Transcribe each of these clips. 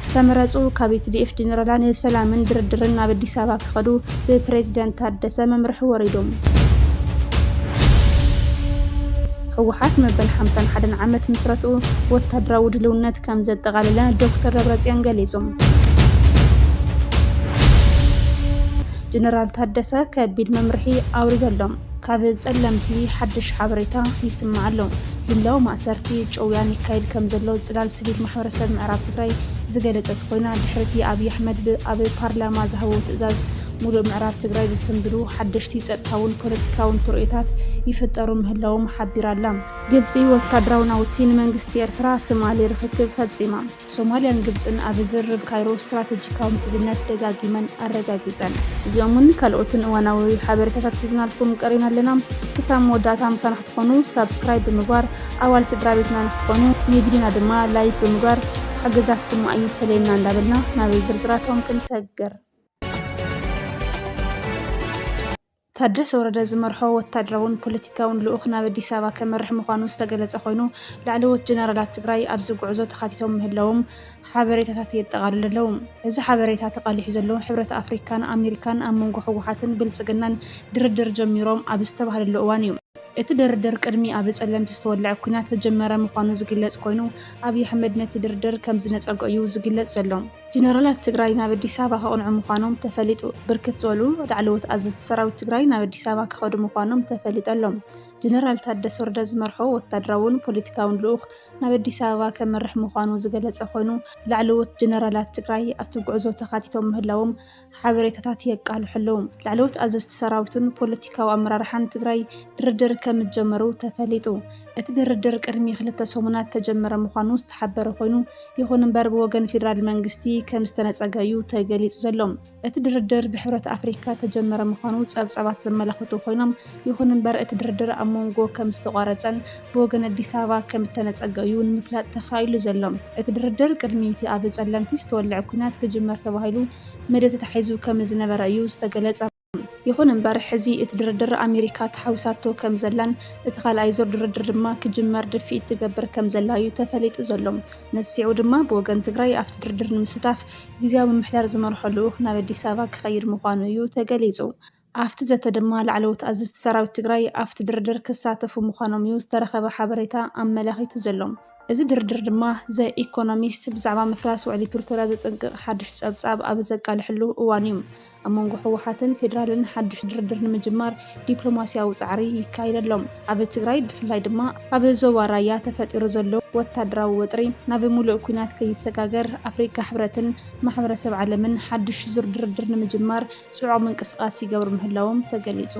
ዝተመረፁ ካብ ቲዲኤፍ ጀነራላ ንሰላምን ድርድርን ናብ ኣዲስ ኣበባ ክኸዱ ብፕሬዝደንት ታደሰ መምርሒ ወሪዶም። ህወሓት መበል ሓምሳን ሓደን ዓመት ምስረትኡ ወታደራዊ ድልውነት ከም ዘጠቓለለ ዶክተር ደብረፅዮን ገሊፆም። ጀነራል ታደሰ ከቢድ መምርሒ ኣውሪደሎም። ካብ ጸለምቲ ሓድሽ ሓበሬታ ይስማዕ ኣሎ። ጅምላዊ ማእሰርቲ፣ ጭውያን ይካየድ ከምዘሎ ጽላል ስቪል ማሕበረሰብ ምዕራብ ትግራይ ዝገለጸት ኮይና፣ ድሕሪ'ቲ ኣብይ ኣሕመድ ብ ኣብ ፓርላማ ዝሃቦ ትእዛዝ ሙሉእ ምዕራብ ትግራይ ዝስንብዱ ሓደሽቲ ጸጥታውን ፖለቲካውን ትርኢታት ይፍጠሩ ምህላዎም ሓቢራ'ላ። ግብጺ ወታደራዊ ናውቲ ንመንግስቲ ኤርትራ ትማሊ ርኽክብ ፈጺማ። ሶማልያን ግብጽን ኣብ ዝርርብ ካይሮ ስትራተጂካዊ ምሕዝነት ደጋጊመን ኣረጋጊጸን። እዚኦምን ካልኦትን እዋናዊ ሓበሬታታት ሒዝናልኩም ቀሪብና ኣለና። ክሳብ መወዳእታ ምሳና ክትኾኑ ሳብስክራይብ ብምግባር ኣባል ስድራቤትና ንክትኾኑ፣ ንቪድዮና ድማ ላይክ ብምግባር ሓገዛትኩም ኣይፈለየና እንዳበልና ናብ ዝርዝራቶም ክንሰግር። ታደሰ ወረደ ዝመርሖ ወታደራውን ፖለቲካውን ልኡኽ ናብ ኣዲስ ኣበባ ከመርሕ ምዃኑ ዝተገለጸ ኮይኑ ላዕለዎት ጀነራላት ትግራይ ኣብዚ ጉዕዞ ተኻቲቶም ምህላዎም ሓበሬታታት የጠቓልሉ ኣለዉ። እዚ ሓበሬታ ተቓሊሑ ዘሎ ሕብረት ኣፍሪካን ኣሜሪካን ኣብ መንጎ ህወሓትን ብልጽግናን ድርድር ጀሚሮም ኣብ ዝተባህለሉ እዋን እዩ። እቲ ድርድር ቅድሚ ኣብ ጸለምቲ ዝተወልዐ ኲናት ዝጀመረ ምዃኑ ዝግለጽ ኮይኑ፣ ኣብይ ኣሕመድ ነቲ ድርድር ከምዝነጸጎ እዩ ዝግለጽ ዘሎ። ጀነራላት ትግራይ ናብ ኣዲስ ኣበባ ከቕንዑ ምዃኖም ተፈሊጡ። ብርክት ዝበሉ ላዕለዎት ኣዘዝቲ ሰራዊት ትግራይ ናብ ኣዲስ ኣበባ ክኸዱ ምዃኖም ተፈሊጡ ኣሎ። ጀነራል ታደሰ ወረደ ዝመርሖ ወታደራውን ፖለቲካውን ልኡኽ ናብ ኣዲስ ኣበባ ከምርሕ ምዃኑ ዝገለፀ ኮይኑ፣ ላዕለዎት ጀነራላት ትግራይ ኣብቲ ጉዕዞ ተኻቲቶም ምህላዎም ሓበሬታታት የቃልሑ ኣለዉ። ላዕለዎት ኣዘዝቲ ሰራዊትን ፖለቲካዊ ኣመራርሓን ትግራይ ድርድር ከምዝጀመሩ ተፈሊጡ። እቲ ድርድር ቅድሚ ክልተ ሰሙናት ተጀመረ ምዃኑ ዝተሓበረ ኮይኑ፣ ይኹን እምበር ብወገን ፌደራል መንግስቲ ከምዝተነፀገ እዩ ተገሊፁ ዘሎ። እቲ ድርድር ብሕብረት ኣፍሪካ ተጀመረ ምዃኑ ፀብፃባት ዘመላኽቱ ኮይኖም፣ ይኹን እምበር እቲ ድርድር ኣብ ሞንጎ ከም ዝተቋረፀን ብወገን ኣዲስ ኣበባ ከም እተነፀገ እዩ ንምፍላጥ ተኻኢሉ ዘሎ። እቲ ድርድር ቅድሚ እቲ ኣብ ፀለምቲ ዝተወልዐ ኲናት ክጅመር ተባሂሉ መደብ ተታሒዙ ከም ዝነበረ እዩ ዝተገለፀ። ይኹን እምበር ሕዚ እቲ ድርድር ኣሜሪካ ተሓዊሳቶ ከም ዘላን እቲ ካልኣይ ዙር ድርድር ድማ ክጅመር ድፍኢት ትገብር ከም ዘላ እዩ ተፈሊጡ ዘሎ። ነዚ ስዒቡ ድማ ብወገን ትግራይ ኣብቲ ድርድር ንምስታፍ ግዝያዊ ምምሕዳር ዝመርሖ ልኡኽ ናብ ኣዲስ ኣበባ ክኸይድ ምዃኑ እዩ ተገሊፁ። ኣፍቲ ዘተ ድማ ላዕለዎት ኣዘዝቲ ሰራዊት ትግራይ ኣፍቲ ድርድር ክሳተፉ ምዃኖም እዩ ዝተረኸበ ሓበሬታ ኣመላኺቱ ዘሎ። እዚ ድርድር ድማ ዘ ኢኮኖሚስት ብዛዕባ ምፍራስ ውዕሊ ፕሪቶርያ ዘጠንቅቕ ሓድሽ ፀብፃብ ኣብ ዘቃልሐሉ እዋን እዩ። ኣብ መንጎ ህወሓትን ፌዴራልን ሓድሽ ድርድር ንምጅማር ዲፕሎማሲያዊ ፃዕሪ ይካየድ ኣሎ። ኣብ ትግራይ ብፍላይ ድማ ኣብ ዞባ ራያ ተፈጢሩ ዘሎ ወታደራዊ ወጥሪ ናብ ሙሉእ ኲናት ከይሰጋገር ኣፍሪካ ሕብረትን ማሕበረሰብ ዓለምን ሓድሽ ዙር ድርድር ንምጅማር ፅዑቕ ምንቅስቓስ ይገብሩ ምህላዎም ተገሊፁ።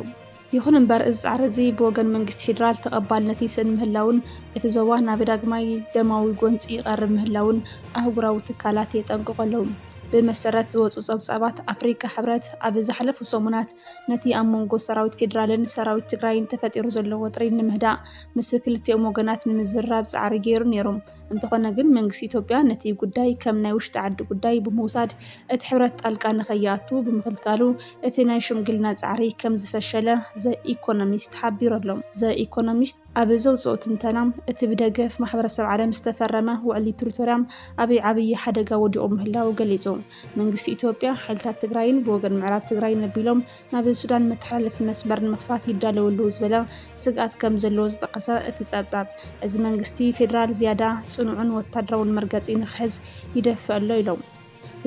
ይኹን እምበር እዚ ፃዕሪ እዚ ብወገን መንግስቲ ፌዴራል ተቐባልነት ይስእን ምህላውን እቲ ዞባ ናብ ዳግማይ ደማዊ ጎንፂ ይቐርብ ምህላውን ኣህጉራዊ ትካላት የጠንቅቑ ኣለዉ። ብመሰረት ዝወፁ ፀብፃባት ኣፍሪካ ሕብረት ኣብ ዝሓለፉ ሰሙናት ነቲ ኣብ መንጎ ሰራዊት ፌዴራልን ሰራዊት ትግራይን ተፈጢሩ ዘሎ ወጥሪ ንምህዳእ ምስ ክልቲኦም ወገናት ንምዝርራብ ፃዕሪ ገይሩ ነይሩ። እንተኾነ ግን መንግስቲ ኢትዮጵያ ነቲ ጉዳይ ከም ናይ ውሽጢ ዓዲ ጉዳይ ብምውሳድ እቲ ሕብረት ጣልቃ ንከይኣቱ ብምኽልካሉ እቲ ናይ ሽምግልና ፃዕሪ ከም ዝፈሸለ ዘ ኢኮኖሚስት ሓቢሩ ኣሎ። ዘ ኢኮኖሚስት ኣብ ዘውፅኦ ትንተና እቲ ብደገፍ ማሕበረሰብ ዓለም ዝተፈረመ ውዕሊ ፕሪቶርያ ኣብ ዓብዪ ሓደጋ ወዲቑ ምህላዉ ገሊፁ። መንግስቲ ኢትዮጵያ ሓይልታት ትግራይን ብወገን ምዕራብ ትግራይ ነቢሎም ናብ ሱዳን መተሓላለፊ መስመር ንምኽፋት ይዳለው ኣለዉ ዝበለ ስግኣት ከም ዘለዎ ዝጠቐሰ እቲ ጸብጻብ፣ እዚ መንግስቲ ፌደራል ዝያዳ ጽኑዕን ወታደራውን መርገጺ ንክሕዝ ይደፍእ ኣሎ ኢሎም።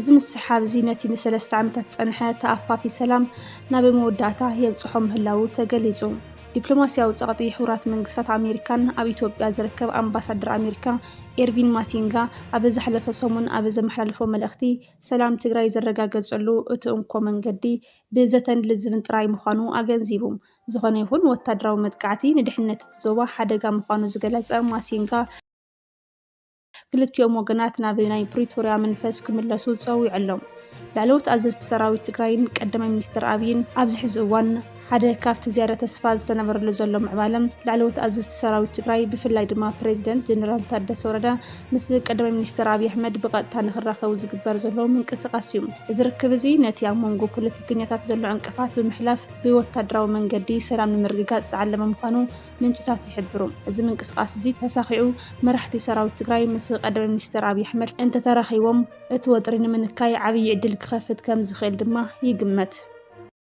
እዚ ምስሓብ እዚ ነቲ ንሰለስተ ዓመታት ዝጸንሐ ተኣፋፊ ሰላም ናብ መወዳእታ የብጽሖ ምህላዉ ተገሊጹ። ዲፕሎማስያዊ ጸቕጢ ሕቡራት መንግስታት ኣሜሪካን ኣብ ኢትዮጵያ ዝርከብ ኣምባሳደር ኣሜሪካ ኤርቪን ማሲንጋ ኣብ ዘሕለፈ ሰሙን ኣብ ዘመሓላለፎ መልእኽቲ ሰላም ትግራይ ዝረጋገፀሉ እቲ እንኮ መንገዲ ብዘተን ልዝብን ጥራይ ምዃኑ ኣገንዚቡ። ዝኾነ ይኹን ወታደራዊ መጥቃዕቲ ንድሕነት እቲ ዞባ ሓደጋ ምዃኑ ዝገለፀ ማሲንጋ፣ ክልቲኦም ወገናት ናብ ናይ ፕሪቶርያ መንፈስ ክምለሱ ፀዊዑ ኣሎ። ላዕለዎት ኣዘዝቲ ሰራዊት ትግራይን ቀዳማይ ሚኒስትር ኣብይን ኣብዚ ሕዚ እዋን ሓደ ካብቲ ዝያዳ ተስፋ ዝተነበረሉ ዘሎ ምዕባለ፣ ላዕለዎት ኣዘዝቲ ሰራዊት ትግራይ ብፍላይ ድማ ፕረዚደንት ጀነራል ታደሰ ወረደ ምስ ቀዳማይ ሚኒስተር ኣብዪ ኣሕመድ ብቐጥታ ንኽራኸቡ ዝግበር ዘሎ ምንቅስቓስ እዩ። እዚ ርክብ እዚ ነቲ ኣብ መንጎ ፖለቲከኛታት ዘሎ ዕንቅፋት ብምሕላፍ ብወታደራዊ መንገዲ ሰላም ንምርግጋጽ ዝዓለመ ምዃኑ ምንጭታት ይሕብሩ። እዚ ምንቅስቓስ እዚ ተሳኺዑ መራሕቲ ሰራዊት ትግራይ ምስ ቀዳማይ ሚኒስተር ኣብዪ ኣሕመድ እንተተራኺቦም እቲ ወጥሪ ንምንካይ ዓብዪ ዕድል ክኸፍት ከምዝኽእል ድማ ይግመት።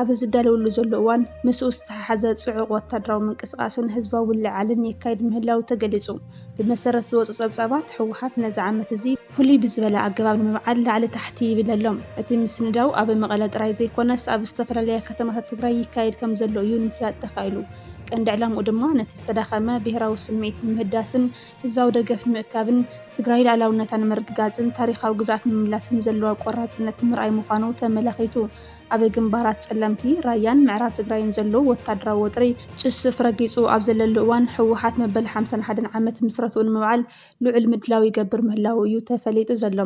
ኣብ ዝዳለወሉ ዘሎ እዋን ምስኡ ዝተሓሓዘ ጽዑቕ ወታደራዊ ምንቅስቓስን ህዝባዊ ምልዕዓልን የካይድ ምህላው ተገሊጹ። ብመሰረት ዝወጹ ጸብጻባት፣ ህወሓት ነዚ ዓመት እዚ ፍሉይ ብዝበለ ኣገባብ ንምብዓል ላዕሊ ታሕቲ ይብል ኣሎ። እቲ ምስንዳው ኣብ መቐለ ጥራይ ዘይኮነስ ኣብ ዝተፈላለያ ከተማታት ትግራይ ይካየድ ከምዘሎ እዩ ንምፍላጥ ተኻኢሉ። ቀንዲ ዕላምኡ ድማ ነቲ ዝተዳኸመ ብሄራዊ ስምዒት ንምህዳስን ህዝባዊ ደገፍ ንምእካብን፣ ትግራይ ልኣላውነታ ንምርግጋጽን ታሪኻዊ ግዝኣት ንምምላስን ዘለዋ ቆራጽነት ንምርኣይ ምዃኑ ተመላኺቱ። ኣብ ግንባራት ፀለምቲ ራያን ምዕራብ ትግራይን ዘሎ ወታደራዊ ወጥሪ ጭስፍ ረጊፁ ኣብ ዘለሉ እዋን ህወሓት መበል ሓምሳን ሓደን ዓመት ምስረትኡ ንምብዓል ልዑል ምድላው ይገብር ምህላዉ እዩ ተፈሊጡ ዘሎ።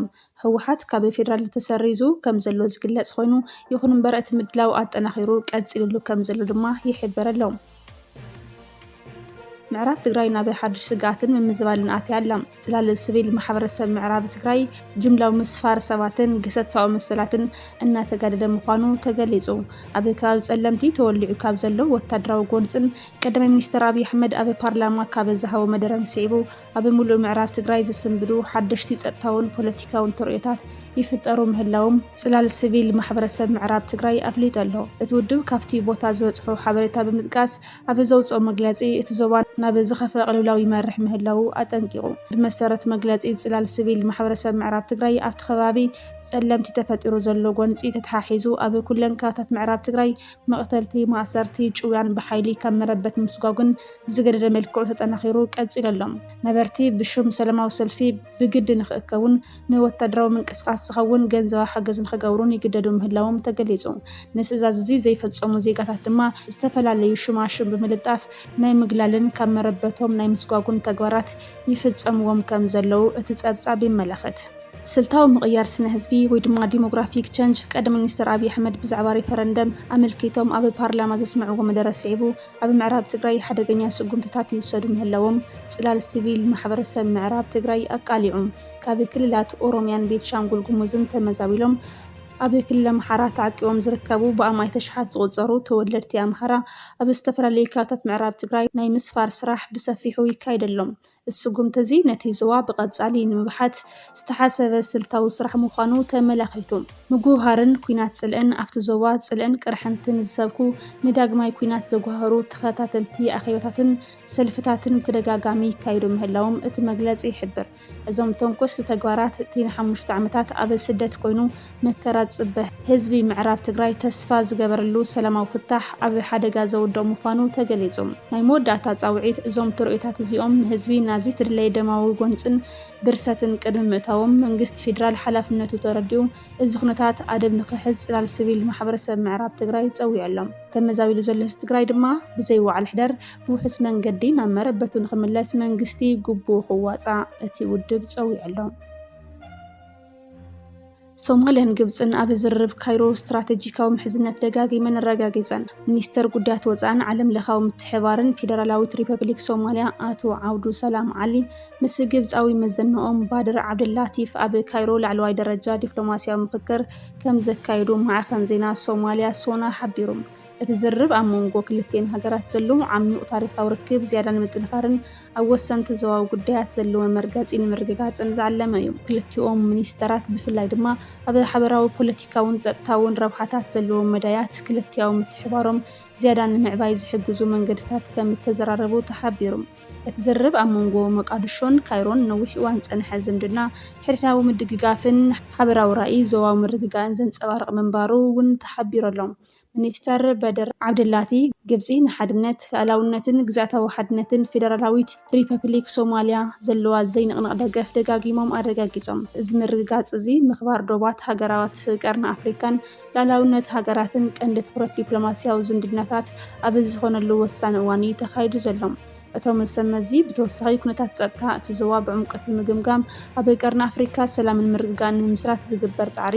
ህወሓት ካብ ፌዴራል ተሰሪዙ ከምዘሎ ዝግለፅ ኾይኑ ይኹን እምበር እቲ ምድላው ኣጠናኺሩ ቀፂልሉ ከምዘሎ ድማ ይሕበር ኣሎ። ምዕራብ ትግራይ ናብ ሓድሽ ስግኣትን ምምዝባልን ኣትያ ኣላ። ጽላለ ስቪል ማሕበረሰብ ምዕራብ ትግራይ ጅምላዊ ምስፋር ሰባትን ግህሰት ሰብኣዊ መሰላትን እናተጋደደ ምዃኑ ተገሊጹ። ኣብ ከባቢ ጸለምቲ ተወሊዑ ካብ ዘሎ ወታደራዊ ጎንጽን ቀዳማይ ሚኒስተር ኣብይ ኣሕመድ ኣብ ፓርላማ ካብ ዝሃቦ መደረን ስዒቡ ኣብ ምሉእ ምዕራብ ትግራይ ዝስንብዱ ሓደሽቲ ጸጥታውን ፖለቲካውን ተርእዮታት ይፍጠሩ ምህላዎም ጽላል ስቪል ማሕበረሰብ ምዕራብ ትግራይ ኣፍሊጡ ኣሎ። እቲ ውድብ ካብቲ ቦታ ዝበጽሖ ሓበሬታ ብምጥቃስ ኣብ ዘውጽኦ መግለጺ፣ እቲ ዞባ ናብ ዝኸፍኣ ቅልውላው ይመርሕ ምህላዉ ኣጠንቂቑ። ብመሰረት መግለጺ ጽላል ስቪል ማሕበረሰብ ምዕራብ ትግራይ፣ ኣብቲ ከባቢ ጸለምቲ ተፈጢሩ ዘሎ ጎንጺ ተተሓሒዙ ኣብ ኩለን ከባታት ምዕራብ ትግራይ መቕተልቲ፣ ማእሰርቲ፣ ጭውያን ብሓይሊ ካብ መረበት ምስጓጕን ብዝገደደ መልክዑ ተጠናኺሩ ቀፂሉ ኣሎ። ነበርቲ ብሹም ሰለማዊ ሰልፊ ብግዲ ንኽእከቡን ንወታደራዊ ምንቅስቓስ ዝኸውን ገንዘባዊ ሓገዝ ንኽገብሩን ይግደዱ ምህላዎም ተገሊፁ። ነዚ ትእዛዝ እዚ ዘይፈፀሙ ዜጋታት ድማ ዝተፈላለዩ ሹማሹም ብምልጣፍ ናይ ምግላልን ካብ መረበቶም ናይ ምስጓጉን ተግባራት ይፍፀምዎም ከምዘለዉ እቲ ፀብፃብ የመላኽት። ስልታዊ ምቕያር ስነ ህዝቢ ወይ ድማ ዲሞግራፊክ ቸንጅ ቀዳማይ ሚኒስትር ኣብይ ኣሕመድ ብዛዕባ ሪፈረንደም ኣመልኪቶም ኣብ ፓርላማ ዘስምዕዎ መደረ ስዒቡ ኣብ ምዕራብ ትግራይ ሓደገኛ ስጉምትታት ይውሰዱ ምህላዎም ፅላል ሲቪል ማሕበረሰብ ምዕራብ ትግራይ ኣቃሊዑ። ካብ ክልላት ኦሮሚያን ቤንሻንጉል ጉሙዝን ተመዛቢሎም ኣብ ክልል ኣምሓራ ተዓቂቦም ዝርከቡ ብኣማኢት ኣሽሓት ዝቑፀሩ ተወለድቲ ኣምሓራ ኣብ ዝተፈላለዩ ከባብታት ምዕራብ ትግራይ ናይ ምስፋር ስራሕ ብሰፊሑ ይካየደሎም እዚ ስጉምቲ እዚ ነቲ ዞባ ብቐጻሊ ንምብሓት ዝተሓሰበ ስልታዊ ስራሕ ምዃኑ ተመላኺቱ። ምጉህሃርን ኲናት ጽልእን፣ ኣብቲ ዞባ ጽልእን ቅርሕንትን ዝሰብኩ ንዳግማይ ኲናት ዘጉሃህሩ ተኸታተልቲ ኣኼባታትን ሰልፍታትን ብተደጋጋሚ ይካየዱ ምህላዎም እቲ መግለጺ ይሕብር። እዞም ተንኮስቲ ተግባራት እቲ ንሓሙሽተ ዓመታት ኣብ ስደት ኮይኑ መከራ ዝፅበ ህዝቢ ምዕራብ ትግራይ ተስፋ ዝገበረሉ ሰላማዊ ፍታሕ ኣብ ሓደጋ ዘውድቕ ምዃኑ ተገሊፁ። ናይ መወዳእታ ፃውዒት እዞም ትርኢታት እዚኦም ንህዝቢ ናብ ዘይተደለየ ደማዊ ጎንፅን ብርሰትን ቅድሚ ምእታዎም መንግስቲ ፌዴራል ሓላፍነቱ ተረዲኡ እዚ ኩነታት ኣደብ ንክሕዝ ፅላል ስቪል ማሕበረሰብ ምዕራብ ትግራይ ፀዊዑ ኣሎ። ተመዛቢሉ ዘሎ ህዝቢ ትግራይ ድማ ብዘይ ውዓል ሕደር ብውሑስ መንገዲ ናብ መረበቱ ንክምለስ መንግስቲ ግቡኡ ክዋፃእ እቲ ውድብ ፀዊዑ ኣሎ። ሶማልያን ግብፅን ኣብ ዝርርብ ካይሮ ስትራተጂካዊ ምሕዝነት ደጋጊመን ኣረጋጊፀን። ሚኒስተር ጉዳያት ወፃእን ዓለም ለኻዊ ምትሕባርን ፌደራላዊት ሪፐብሊክ ሶማልያ ኣቶ ዓብዱ ሰላም ዓሊ ምስ ግብፃዊ መዘንኦም ባድር ዓብደላቲፍ ኣብ ካይሮ ላዕለዋይ ደረጃ ዲፕሎማስያዊ ምኽክር ከም ዘካየዱ ማዕኸን ዜና ሶማልያ ሶና ሓቢሩ። እቲ ዝርርብ ኣብ መንጎ ክልቲኤን ሃገራት ዘሎ ዓሚዩቕ ታሪኻዊ ርክብ ዝያዳ ንምጥንኻርን ኣብ ወሰንቲ ዞባዊ ጉዳያት ዘለዎ መርገጺ ንምርግጋጽን ዝዓለመ እዩ። ክልቲኦም ሚኒስተራት ብፍላይ ድማ ኣብ ሓበራዊ ፖለቲካውን ጸጥታውን ረብሓታት ዘለዎም መዳያት ክልቲኣዊ ምትሕብባሮም ዝያዳ ንምዕባይ ዝሕግዙ መንገድታት ከም እተዘራረቡ ተሓቢሩ። እቲ ዝርርብ ኣብ መንጎ ሞቃድሾን ካይሮን ነዊሕ እዋን ዝጸንሐ ዝምድና፣ ሕድሕዳዊ ምድግጋፍን ሓበራዊ ራእይ ዞባዊ ምርግጋእን ዘንጸባርቕ ምንባሩ እውን ተሓቢሩ ኣሎ። ሚኒስተር በድር ዓብደላቲ፣ ግብጺ ንሓድነት፣ ልኣላውነትን ግዝኣታዊ ሓድነትን ፌደራላዊት ሪፐፕሊክ ሶማልያ ዘለዋ ዘይንቕነቕ ደገፍ ደጋጊሞም ኣረጋጊጾም። እዚ ምርግጋጽ እዚ፣ ምኽባር ዶባት ሃገራት ቀርኒ ኣፍሪካን ልኣላውነት ሃገራትን ቀንዲ ትኹረት ዲፕሎማስያዊ ዝምድናታት ኣብ ዝኾነሉ ወሳኒ እዋን እዩ ተኻይዱ ዘሎ። እቶም ሰብ መዚ ብተወሳኺ ኩነታት ጸጥታ እቲ ዞባ ብዕምቆት ብምግምጋም ኣብ ቀርኒ ኣፍሪካ ሰላምን ምርግጋእን ንምምስራት ዝግበር ጻዕሪ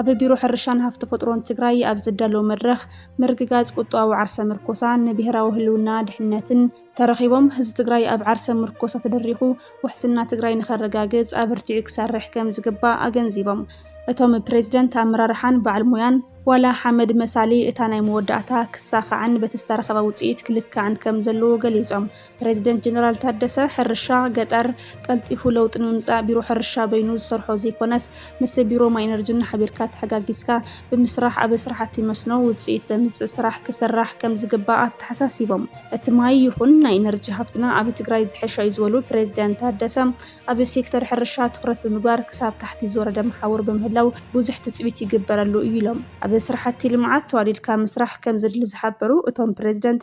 ኣብ ቢሮ ሕርሻን ሃፍቲ ተፈጥሮን ትግራይ ኣብ ዝዳለው መድረኽ ምርግጋፅ ቁጠባዊ ዓርሰ ምርኮሳ ንብሄራዊ ህልውና ድሕንነትን ተረኺቦም ህዝቢ ትግራይ ኣብ ዓርሰ ምርኮሳ ተደሪኹ ውሕስና ትግራይ ንኸረጋግፅ ኣበርቲዑ ክሰርሕ ከምዝግባእ ኣገንዚቦም። እቶም ፕሬዝደንት ኣመራርሓን በዓል ሞያን ዋላ ሓመድ መሳሊ እታ ናይ መወዳእታ ክሳኻዕን በቲ ዝተረኸበ ውፅኢት ክልካዕን ከምዘለዎ ገሊፆም። ፕረዚደንት ጀነራል ታደሰ፣ ሕርሻ ገጠር ቀልጢፉ ለውጢ ንምምፃእ ቢሮ ሕርሻ በይኑ ዝሰርሖ ዘይኮነስ ምስ ቢሮ ማይ ኢነርጅን ሓቢርካ ተሓጋጊዝካ ብምስራሕ ኣብ ስራሕቲ መስኖ ውፅኢት ዘምፅእ ስራሕ ክስራሕ ከምዝግባእ ኣተሓሳሲቦም። እቲ ማይ ይኹን ናይ ኢነርጂ ሃፍትና ኣብ ትግራይ ዝሐሸ እዩ ዝበሉ ፕረዚደንት ታደሰ፣ ኣብ ሴክተር ሕርሻ ትኹረት ብምግባር ክሳብ ታሕቲ ዝወረደ መሓውር ብምህላው ብዙሕ ትፅቢት ይግበረሉ እዩ ኢሎም። ኣብ ስራሕቲ ልምዓት ተዋዲድካ ምስራሕ ከምዘድሊ ዝሓበሩ እቶም ፕረዚደንት፣